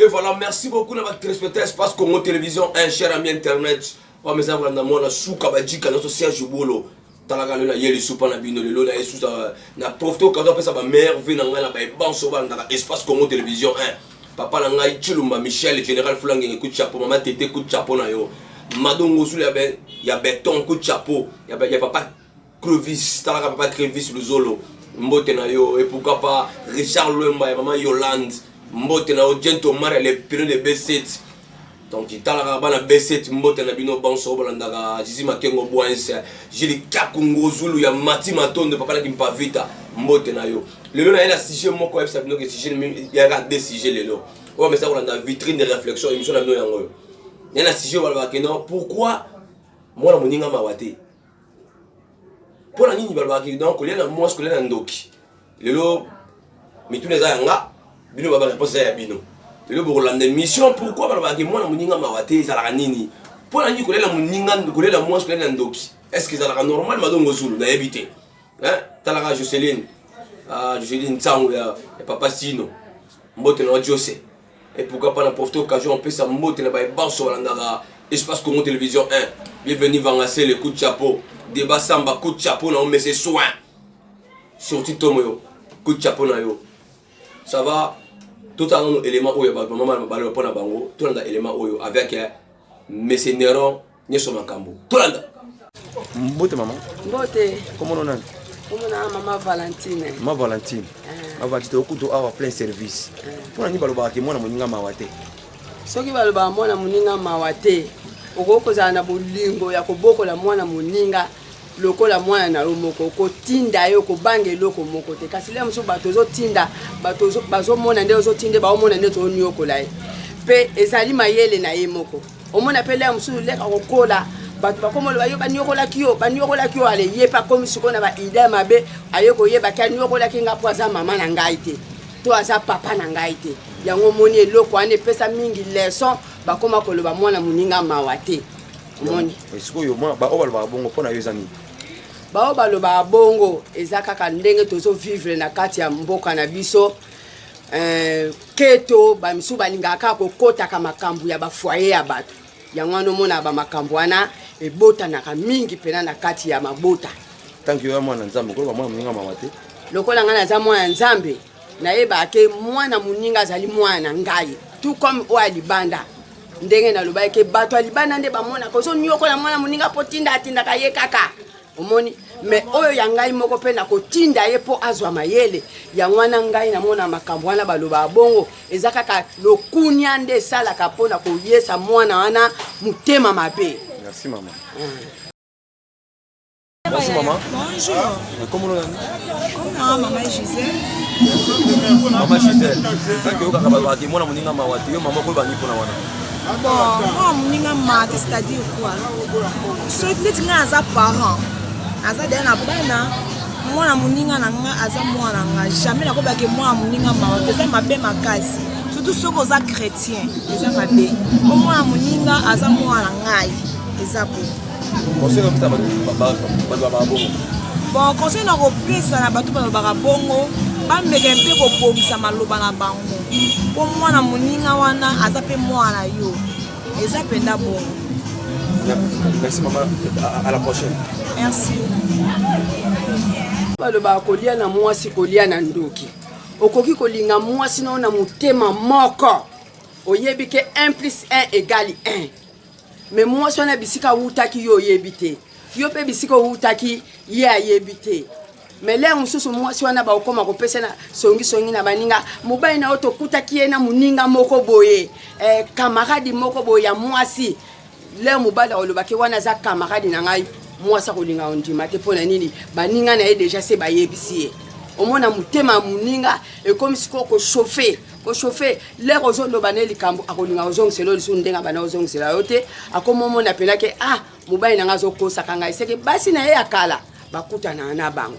Et voilà, merci beaucoup na ba téléspectateurs Espace Congo Télévision, un cher ami internet. Wa meza kolanda mwana suka ba jika na Serge Bolo. Talaka lelo na yeli supa na bino lelo na Yesus na profite okazo apesa ba meilleure vie na ngai na ba ebanso ba ndaka Espace Congo Télévision 1. Papa na ngai Chilumba Michel, Général Fulangenge coup de chapeau, maman Tete coup de chapeau na yo. Madongo zulu ya, be, ya beton coup de chapeau ya, ya papa Clovis, talaka papa Clovis Luzolo, mbote na yo, et pourquoi pas Richard Luemba ya maman Yolande, mbote na yo, Jento Omar ya le pionnier de B7. Donc talaka bana B7 mbote na bino banso bolandaka Zizi Makengo Boense, Jili Kakungo Zulu ya Mati Matondo papa na Kimpavita, mbote na yo. Lelo na ye na sujet moko yebisa bino ke sujet ya ka deux sujets lelo. Oyo mesa kolanda vitrine de réflexion émission na bino yango yo. Na sujet balobaka non pourquoi mwana moninga mawa te mpo na nini balobaka donc kolia na mwasi kolia na ndoki lelo mituna eza ya nga bino baba réponse eza ya bino lelo bokolanda mission pourquoi balobaka ke mwana moninga mawa te ezalaka nini mpo na nini kolia na moninga kolia na mwasi kolia na ndoki est ce que ezalaka normal madongo zulu nayebi te talaka joceline ah, joceline nsango ya papa sino mbote na jose Et pourquoi pas na profiter occasion on peut sa mbote na baye banso balandaka espace Congo Télévision 1. Bienvenue Vangasele, coup de chapeau. Débat Samba, coup de chapeau na yo, mais c'est soin. Surtout Tomo yo, coup de chapeau na yo. Ça va totala nano élément oyo ya bato bamama na mabale mpo na bango tolanda élément oyo avec eh, mese neron nioso makambo tolanda mbote mama mbote komono nani komonaa mama valentine mama valentine eh. avantite okutu awa plein service eh. mpo na nini balobaka ke mwana moninga mawa te soki balobaka mwana moninga mawa te okoki kozala na bolingo ya kobokola mwana moninga lokola mwana na yo moko okotinda ye okobanga eloko moko te kasi le mosusu bato ozotinda bato bazomona nde ozotinda baomona nde tooniokola ye mpe ezali mayele na ye moko omona mpe lere mosusu lere akokola bato bakomoloba yo baniokolaki yo baniokolaki yo ale ye mpe akomi sikoyo na baidee mabe aye koyebaki aniokolaki ngai mpo aza mama na ngai te to aza papa na ngai te yango omoni eloko wana epesa mingi leson bakoma koloba mwana moninga mawa te omoni sikoyo oyo balobaka bongo mpo na yo eza nini baoyo balobaka bongo eza kaka ndenge tozovivre na kati ya mboka na biso eh, keto bamisusu balingaka kaka kokotaka makambo ya bafoye ya bato yango wana omonaka bamakambo wana ebotanaka mingi mpena na kati ya mabota tanki oya mwana nzambe okoloba mwana moninga mawa te lokola ngai naza mwana ya nzambe nayebaka ke mwana moninga azali mwana na ngai tout comme oyo ya libanda ndenge nalobaki ke bato ya libanda nde bamonaka ozoniokola mwana moninga mpo tinda atindaka ye kaka omoni me oyo ya ngai moko mpe nakotinda ye mpo azwa mayele yango wana ngai namona makambo wana balobaka bongo eza kaka lokunia nde esalaka mpo na koyesa mwana wana motema mabe merci mama ah. Bonjour maman. Bonjour. Euh, comment on Comment maman Gisèle Maman Gisèle, tant que vous avez des gens qui ont des gens qui ont des gens qui ont des gens bon mwa moninga mate c'est-à-dire quoi so neti ngai aza parent aza deya na bana mwana moninga na ngai aza mwana ngai jamais nakobake mwana moninga mawa eza mabe makasi surtout soki oza chrétien eza mabe po mwana moninga aza mwana ngai eza po bon conseil na kopesa na bato balobaka bongo bameka mpe kobongisa maloba na bango po mwana moninga wana aza mpe mwana yo eza mpenza bongo merci mama à la prochaine merci balobaka kolia na mwasi kolia na ndoki okoki kolinga mwasi nao na motema moko oyebi ke 1 plus 1 egale 1 Mais mwasi wana bisika awutaki yo oyebi te, yo mpe bisika owutaki ye ayebi te. Mais lere mosusu mwasi wana bakokoma kopesa na songisongi na baninga, mobali na yo tokutaki ye na moninga moko boye, eh, kamaradi moko boye ya mwasi. Lere mobali akolobaki wana aza kamaradi na ngai, mwasi akolinga ondima te. Mpo na nini? Baninga na ye deja se bayebisi ye. omona motema ya moninga ekomi sikoyo kochauffe ko chauffer lere ozoloba ne likambo akolinga ozongisela yo lisusu ndenge abanda ozongisela yo te akomomona mpena ke ah mobali na ngai azokosaka ngai seke basi na ye ya kala bakutana na bango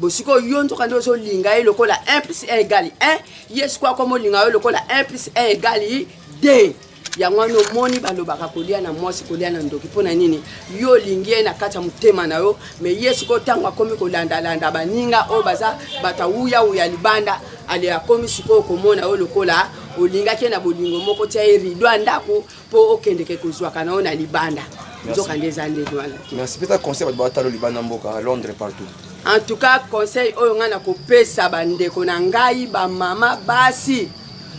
bosiko yo nzoka nde ozolinga ye lokola 1 plus 1 egali 1 ye sikoyo akomolinga yo lokola 1 plus 1 egali 2 yango wana omoni balobaka kolia na mwasi kolia na ndoki mpo na nini yo olingi ye na kati ya motema na yo me ye sikoyo ntango akomi kolandalanda baninga oyo baza bato awuyawuya libanda ale akomi sikoyo komona yo lokola olingaki ye na bolingo moko tia ye rido ya ndako mpo okendeke kozwaka na yo na libanda nzoka nde eza ndenge wana merci pesa conseil bato batalo libanda mboka londres partout en tout cas conseil oyo ngai nakopesa bandeko na ngai bamama basi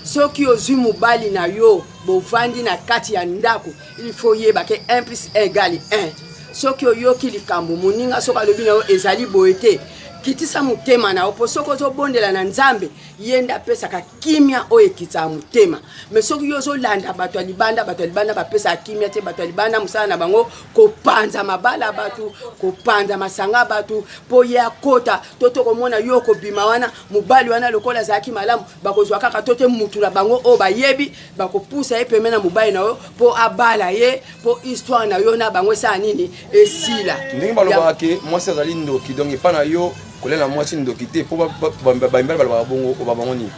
soki ozwi mobali na yo bovandi na kati ya ndako il faut yeba ke 1 plus 1 egali 1 soki oyoki likambo moninga soki alobi na yo ezali boye te kitisa motema na yo mpo soki ozobondela na nzambe ye nde apesaka kimia oyo ekitisaka motema me soki yo ozolanda bato ya libanda bato ya libanda bapesaka kimia te bato ya libanda mosala na bango kopanza mabala ya bato kopanza masanga ya bato mpo ye akota to tokomona yo okobima wana mobali wana lokola azalaki malamu bakozwa kaka to te mutu na bango oyo bayebi bakopusa ye peme na mobali na yo mpo abala ye mpo histoire na yo na bango esala nini esila ndenge balobaka ke mwasi azali ndoki donc epai na yo kolela mwasi ndoki te mpo bamibali balobaka bongo oba bango nini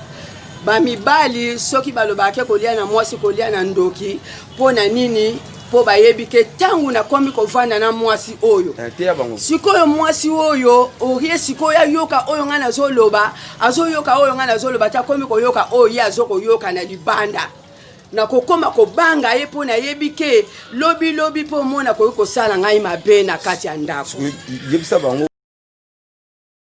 bamibali soki balobaka ke kolia na mwasi kolia na ndoki mpo na nini mpo bayebi ke ntango nakomi kovanda na mwasi oyo eh, sikoyo mwasi oyo orie sikoyo ayoka oyo ngai nazoloba azoyoka oyo ngai nazoloba te akomi koyoka oyo ye azokoyoka na libanda nakokoma kobanga ye mpo nayebi ke lobilobi mpo omona akoki kosala ngai mabe na kati ya ndako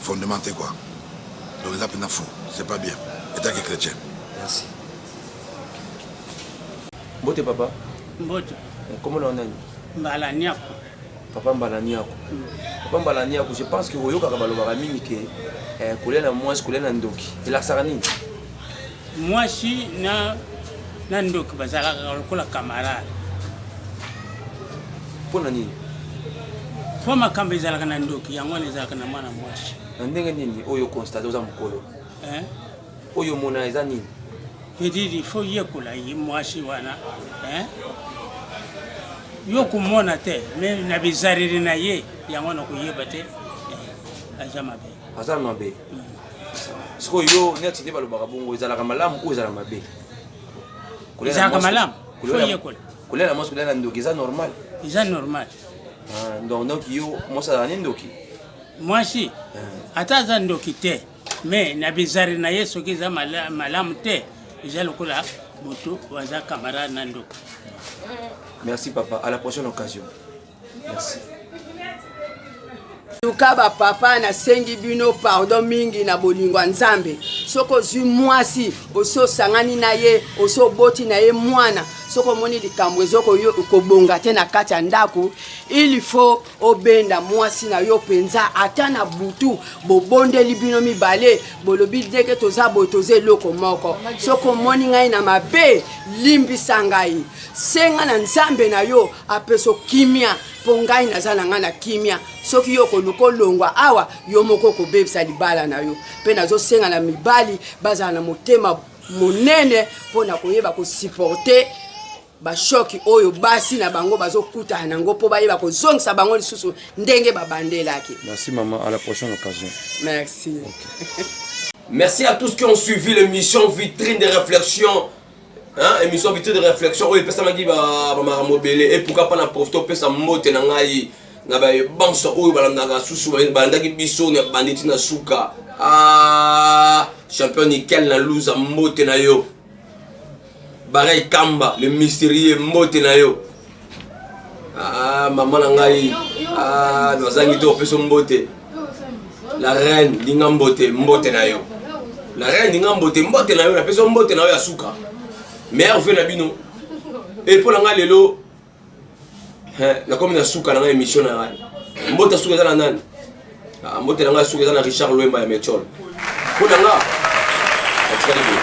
fondement te quoi donc eza mpenza fou c'est pas bien etant que chrétien merci mbote papa mbote nkombo na yo nani mbala niako papa mbala niako mm. papa mbala niako je pense que oyokaka balobaka mingi ke eh, kolia na mwasi kolia na ndoki elakisaka nini Mwasi na na ndoki bazalaka lokola camarade. Mpo na nini? Mpo makambo ezalaka na ndoki, yango wana ezalaka na mwana mwasi. Na ndenge nini oyo constate oza mokolo? Eh? Oyo omona eza nini? Edidi, fo yekola ye mwasi wana eh? yo komona te me na bizaleli na ye yango na koyeba te eh, aza mabe aza mabe sikoyo yo neti nde balobaka bongo ezalaka malamu oyo ezala mabe ezalaka malamu kolela mwasi kolela na ndoki eza normal eza normal ah, donc donc yo mwasi azala ne ndoki mwasi eh. ata aza ndoki te mais na bizari na ye soki eza malamu te eza lokola moto waza camarade na ndoki merci papa à la prochaine occasion Merci. luka bapapa nasengi bino pardon mingi na bolingo ya nzambe soki ozwi mwasi osi osangani na ye osi oboti na ye mwana soki omoni likambo ezo kobonga te na kati ya ndako il faut obenda mwasi na yo mpenza ata na butu bobondeli bino mibale bolobi ndenge toza boye toza eloko moko soki omoni ngai na mabe limbisa ngai Senga na Nzambe na yo apeso kimia mpo ngai naza na ngai na kimia. Soki yo okoluka olongwa awa, yo moko okobebisa libala na yo. Mpe nazosenga na mibali bazala na motema monene mpo na koyeba kosiporte bashoki oyo basi na bango bazokutana na yango mpo bayeba kozongisa bango lisusu ndenge babandelaki. Merci maman, à la prochaine occasion. Merci. Okay. Merci à tous qui ont suivi l'émission Vitrine des réflexions. Hein, émission vite de réflexion oyo epesamaki bamakambo ebele epuka mpa na profite opesa mbote na ngai na babanso oyo balandaka susu balandaki biso na bandi ti na suka ah, champion nikel na luza mbote na yo barai kamba le mysterieux mbote na yo Ah, mama na ngai ah, nazangi te opeso mbote la reine ndinga mbote mbote na yo la reine ndinga mbote mbote na yo napesi yo mbote na yo ya suka meilleur vie na bino e mpo na ngai lelo nakomi na suka na ngai émission na ngai mbote suka eza na nani ah, mbote na ngai suka eza na richard lwemba ya mechol mpo na ngai atikali boye